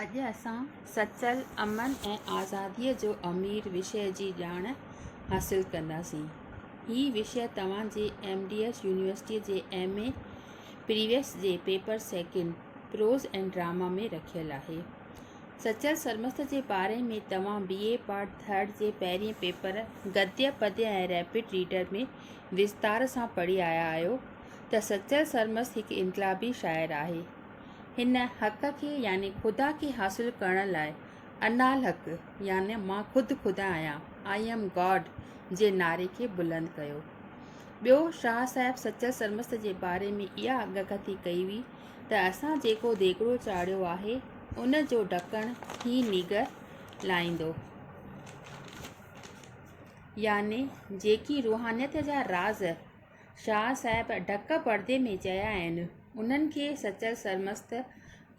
اڄ اسان سچل، امن ۽ آزاديء جو امير وشي جي ڄاڻ حاصل ڪنداسين. هي وشي توهان جي ايم ڊي ايس يونيورسٽيء جي ايم اي پريويس جي paper second, prose and drama ۾ رکيل آهي. سچل سرمست جي باري ۾ توهان بي اي پارٽ ٿرڊ جي پهرئين پيپر گديه، پديه ۽ ريپڊ ريڊر ۾ وستار سان پڙهي آيا آهيو ته سچل سرمست هڪ انقلابي شاعر آهي. هن حق کي يعني خدا کي حاصل ڪرڻ لاء انا الحق يعني مان خود خدا آهيان، I am God، جي نعري کي بلند ڪيو. ٻيو شاهه صاحب سچل سرمست جي باري ۾ اها اڳڪٿي ڪئي هئي ته اسان جيڪو ديڳڙو چاڙهيو آهي ان جو ڍڪڻ هي نيگر لاهيندو. يعني جيڪي روحانيت جا راز شاهه صاحب ڍڪ پڙدي ۾ چيا آهن، انهن کي سچل سرمست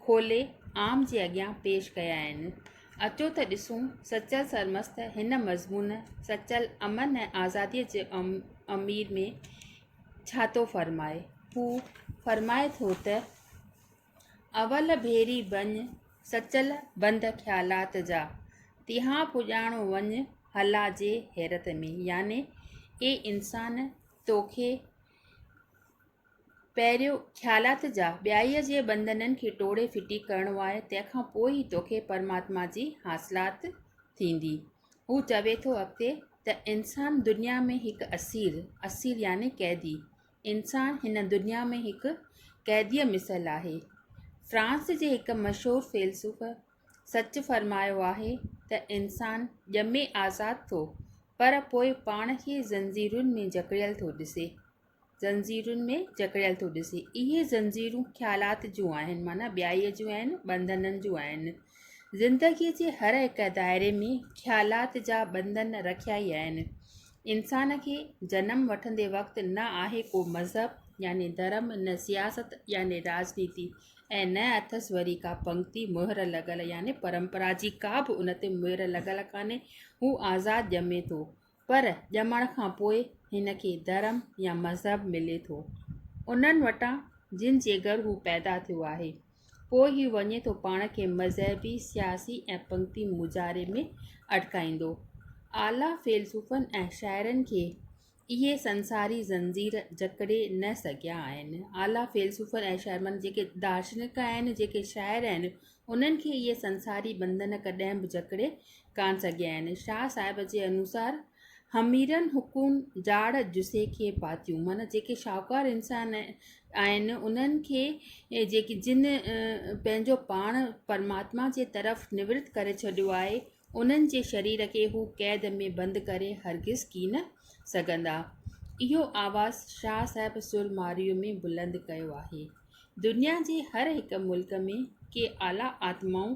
کولي عام جي اڳيان پيش ڪيا آهن. اچو ته ڏسون سچل سرمست هن مضمون سچل امن ۽ آزاديء جي امير ۾ ڇا ٿو فرمائي. هو فرمائي ٿو ته. اول ڀيري بڃ سچل بند خيالات جا، تيهان پڄاڻو وڃ هلا جي حيرت ۾، يعني اي انسان توکي پهريون خيالات جا، ٻيائيء جي بندنن کي ٽوڙي ڦٽي ڪرڻو آهي، تنهن کان پوء ئي توکي پرماتما جي حاصلات ٿيندي. هو چوي ٿو اڳتي ته انسان دنيا ۾ هڪ اسير، اسير يعني قيدي، انسان هن دنيا ۾ هڪ قيديء مثل آهي. فرانس جي هڪ مشهور فيلسوف سچ فرمايو آهي ته انسان ڄمي آزاد ٿو پر پوء پاڻ کي زنجيرن ۾ جڪڙيل ٿو ڏسي زنجيرن ۾ جڪڙيل ٿو ڏسي اهي زنجيرون خيالات جون آهن معنيٰ ٻيائيء جون آهن ٻنڌنن جون آهن زندگيء جي هر هڪ دائري ۾ خيالات جا ٻنڌن رکيا ئي آهن انسان کي جنم وٺندي وقت نه آهي ڪو مذهب يعني ڌرم نه سياست يعني راجنيتي ۽ نه اٿس وري ڪا پنگتي مهر لڳل يعني پرمپرا جي ڪا به ان تي مهر لڳل ڪانهي هو آزاد ڄمي ٿو پر ڄمڻ کان پوء هن کي ڌرم يا مذهب ملي ٿو انهن وٽان جن جي گهر هو پيدا ٿيو آهي پوء هي وڃي ٿو پاڻ کي مذهبي، سياسي ۽ پنگتي مظاهري ۾ اٽڪائيندو. اعليٰ فيلسوفن ۽ شاعرن کي اهي سنساري زنجير جڪڙي نه سگهيا آهن. اعليٰ فيلسوفن ۽ شاعرن معنيٰ جيڪي دارشنڪ آهن، جيڪي شاعر آهن، انهن کي اهي سنساري ٻنڌن ڪڏهن به جڪڙي ڪانه سگهيا آهن. شاهه صاحب جي انوسار حميرن حقون جاڙ جسي کي پاتيون معنيٰ جيڪي شاهوڪار انسان آهن انهن کي جيڪي جن پنهنجو پاڻ پرماتما جي طرف نورت ڪري ڇڏيو آهي انهن جي شرير کي هو قيد ۾ بند ڪري هرگز ڪين سگهندا. اهو آواز شاهه صاحب سر مارئيء ۾ بلند ڪيو آهي. دنيا جي هر هڪ ملڪ ۾ ڪي اعليٰ آتمائون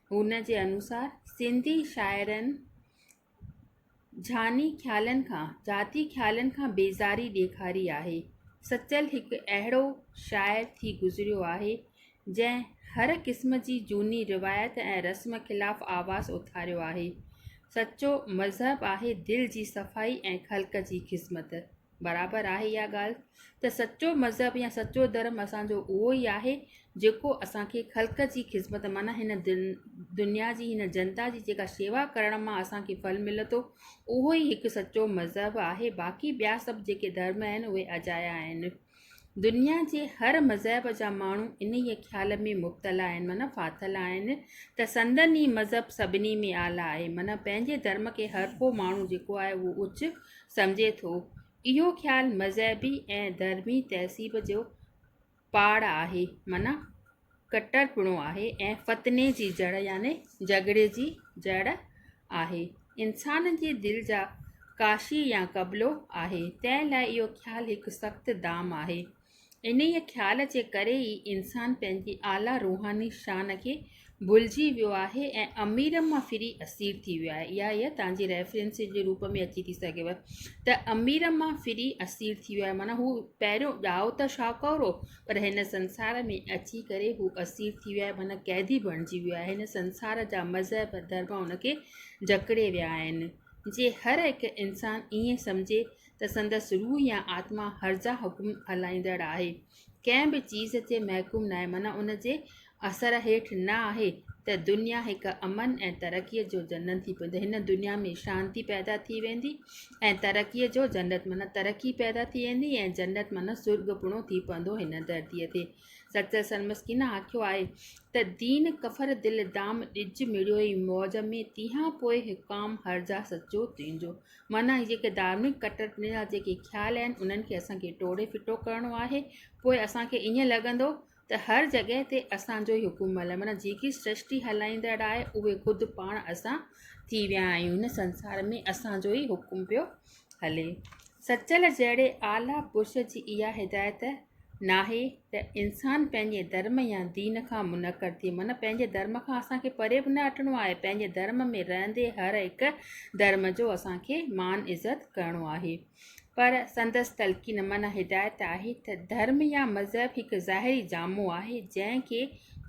هن جي انوسار سنڌي شاعرن جھاني خيالن کان، ذاتي خيالن کان بيزاري ڏيکاري آهي. سچل هڪ اهڙو شاعر ٿي گذريو آهي، جنهن هر قسم جي جھوني روايت ۽ رسم خلاف آواز اٿاريو آهي. سچو مذهب آهي دل جي صفائي ۽ خلق جي خذمت. برابر آهي اها ڳالهه ته سچو مذهب يا سچو ڌرم اسانجو اهو ئي آهي جيڪو اسانکي خلق جي خدمت معنيٰ هن دن دنيا جي هن جنتا جي جيڪا شيوا ڪرڻ ماں اسانکي ڦل ملي ٿو اهو ئي هڪ سچو مذهب آهي باقي ٻيا سڀ جيڪي ڌرم آهن اهي اجايا آهن دنيا جي هر مذهب جا ماڻهو انهيء خيال ۾ مبتلا آهن، معنيٰ ڦاٿل آهن، ته سندن ئي مذهب سڀني ۾ اعليٰ آهي، معنيٰ پنهنجي ڌرم کي هر ڪو ماڻهو جيڪو آهي اهو اچ سمجهي ٿو. اهو خيال مذهبي ۽ ڌرمي تهذيب جو پاڙ آهي، معنيٰ. ڪٽرپڻو آهي ۽ فتني جي جڙ يعني جهڳڙي جي جڙ آهي. انسان جي دل جا ڪاشي يا قبلو آهي. تنهن لاء اهو خيال هڪ سخت دام آهي. انهيء خيال جي ڪري ئي انسان پنهنجي اعليٰ روحاني شان کي ڀلجي ويو آهي ۽ امير مان ڦري اسير ٿي ويو آهي. اها هيء تهان جي ريفرنس جي روپ ۾ اچي ٿي سگهيو ته امير مان ڦري اسير ٿي ويو آهي معنيٰ هو پهريون ڄائو ته شاهوڪار هو پر هن سنسار ۾ اچي ڪري هو اسير ٿي ويو آهي معنيٰ قيدي بڻجي ويو آهي هن سنسار جا مذهب ڌرم ان کي جڪڙي ويا آهن جي هر هڪ انسان ائين سمجهي ته سندس روح يا آتما هرزا حڪم هلائيندڙ آهي ڪنهن به چيز تي محڪوم ناهي معنيٰ ان جي اثر هيٺ نه آهي ته دنيا هڪ امن ۽ ترقيء جو جنت ٿي پوندي هن دنيا ۾ شانتي پيدا ٿي ويندي ۽ ترقيء جو جنت معنيٰ ترقي پيدا ٿي ويندي ۽ جنت معنيٰ سرڳ پڻو ٿي پوندو هن ڌرتيء تي سچل سرمسڪين آکيو آهي ته دين ڪفر دل دام ڏج مڙيوئي موج ۾ تيهان پوء حڪام هر جا سچو تنهنجو معنيٰ جيڪي ڌارمڪ ڪٽرپڻي جا جيڪي خيال آهن انهن کي اسان کي ٽوڙي ڦٽو ڪرڻو آهي پوء اسان کي ائين لڳندو ته هر جڳهه تي اسان جو حڪم عمل معنيٰ جيڪي سرشٽي هلائيندڙ آهي اهي خود پاڻ اسان ٿي ويا آهيون هن سنسار ۾ اسان جو ئي حڪم پيو هلي سچل جهڙي اعليٰ پرش جي اها هدايت ناهي ته انسان پنهنجي ڌرم يا دين کان منڪر ٿئي معنيٰ پنهنجي ڌرم کان اسان کي پري به نه هٽڻو آهي پنهنجي ڌرم ۾ رهندي هر هڪ ڌرم جو اسان کي مان عزت ڪرڻو آهي پر سندس تلقين معنيٰ هدايت آهي ته ڌرم يا مذهب هڪ ظاهري جامو آهي جنهن کي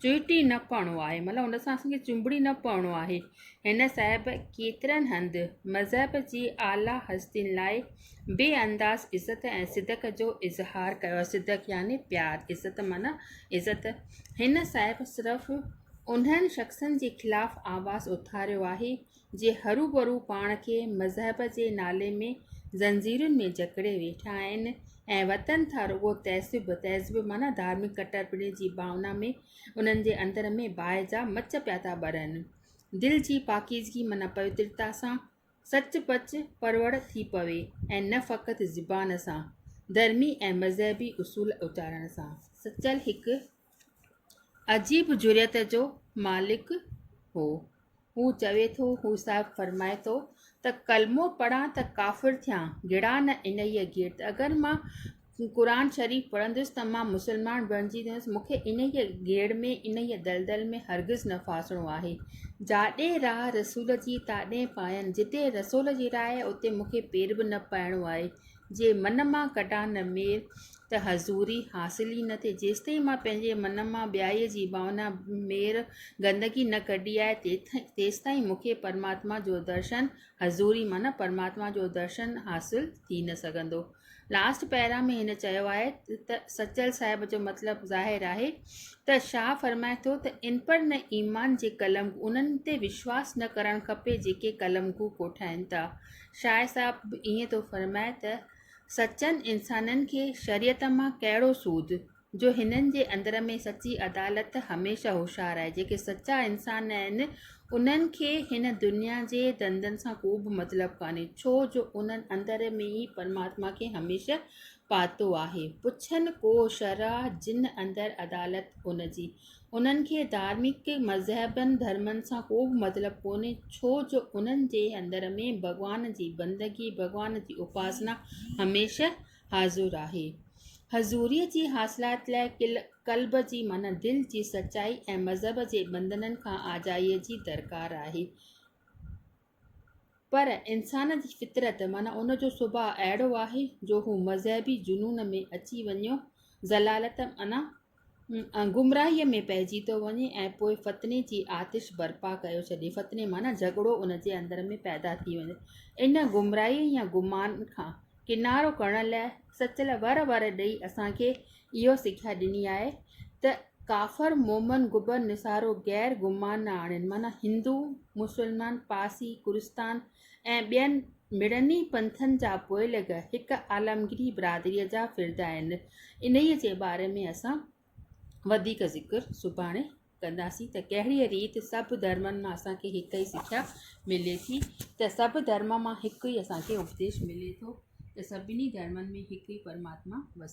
چهٽي نه پوڻو آهي مطلب ان سان اسانکي چنبڙي نه پوڻو آهي هن صاحب ڪيترن هنڌ مذهب جي اعليٰ هستين لاء بي انداز عزت ۽ صدق جو اظهار ڪيو آهي صدق يعني پيار عزت معنيٰ عزت هن صاحب صرف انهن شخصن جي خلاف آواز اٿاريو آهي جي هروڀرو پاڻ کي مذهب جي نالي ۾ زنجيرن ۾ جڪڙي ويٺا آهن ۽ وتن ٿا رڳو تعصب، تهذب معنيٰ ڌارمڪ ڪٽرپڻي جي ڀاونا ۾ انهن جي اندر ۾ باهه جا مچ پيا ٿا ٻرن. دل جي پاڪيزگي معنيٰ پوترتا سان سچ پچ پروڙ ٿي پوي ۽ نه فقط زبان سان، ڌرمي ۽ مذهبي اصول اچارڻ سان. سچل هڪ عجيب جرئت جو مالڪ هو. هو چوي ٿو، هو صاحب فرمائي ٿو ته ڪلمو پڙهان ته ڪافر ٿيان، گڙان نه انهيء گيرت. اگر مان قرآن شريف پڙهندس ته مان مسلمان بڻجي ويندس. مون کي انهيء گيڙ ۾، انهيء دلدل ۾ هرگز نه ڦاسڻو آهي. جاڏي راء رسول جي، تاڏي پاين، جتي رسول جي راء، اتي مون کي پير به نه پائڻو آهي. جي من مان ڪڍان نه مير ته حضوري حاصل ئي نه ٿئي جيستائين مان پنهنجي من مان ٻيائي جي ڀاونا مير گندگي نه ڪڍي آهي تيتائين تيستائين مون کي پرماتما جو درشن حضوري معنيٰ پرماتما جو درشن حاصل ٿي نه سگهندو لاسٽ پيرا ۾ هن چيو آهي ته سچل صاحب جو مطلب ظاهر آهي ته شاهه فرمائي ٿو ته ان پر نه ايمان جي قلم انهن تي وشواس نه ڪرڻ کپي جيڪي قلمگو ڪوٺائين ٿا شاهه صاحب ائين ٿو فرمائي ته، سچن انسانن کي شريعت مان ڪهڙو سود، جو هنن جي اندر ۾ سچي عدالت هميشه هوشيار آهي. جيڪي سچا انسان آهن، انهن کي هن دنيا جي ڌنڌن سان ڪوبه مطلب ڪانهي، ڇو جو انهن اندر ۾ ئي پرماتما کي هميشه پاتو آهي. پڇن ڪو شرع جن اندر عدالت ان جي. انهن کي ڌارمڪ مذهبن ڌرمن سان ڪو به مطلب ڪونهي ڇو جو انهن جي اندر ۾ ڀڳوان جي بندگي ڀڳوان جي اپاسنا هميشه حاضر آهي حضوري جي حاصلات لاء قلب جي معنيٰ دل جي سچائي ۽ مذهب جي بندنن کان آجائي جي درڪار آهي پر انسان جي فطرت معنيٰ ان جو سڀاء اهڙو آهي جو هو مذهبي جنون ۾ اچي وڃيو ضلالت معنيٰ گمراهيء ۾ پئجي ٿو وڃي ۽ پوء فتني جي آتش برپا ڪيو ڇڏي فتني معنيٰ جهڳڙو ان جي اندر ۾ پيدا ٿي وڃي ان گمراهيء يا گمان کان ڪنارو ڪرڻ لاء سچل ور ور ڏئي اسان کي اهو سکيا ڏني آهي ته ڪافر مومن گبر نصارو غير گمان نه آڻين معنيٰ هندو مسلمان پارسي ڪرستان ۽ ٻين مڙني پنٿن جا پوئلڳ هڪ عالمگيري برادري جا فرد آهن انهيء جي باري ۾ اسان وڌيڪ ذڪر سڀاڻي ڪنداسين ته ڪهڙي ريت سڀ ڌرمن مان اسانکي هڪ ئي سکيا ملي ٿي ته سڀ ڌرم مان هڪ ئي اسانکي اپديش ملي ٿو ته سڀني ڌرمن ۾ هڪ ئي پرماتما وسي ٿو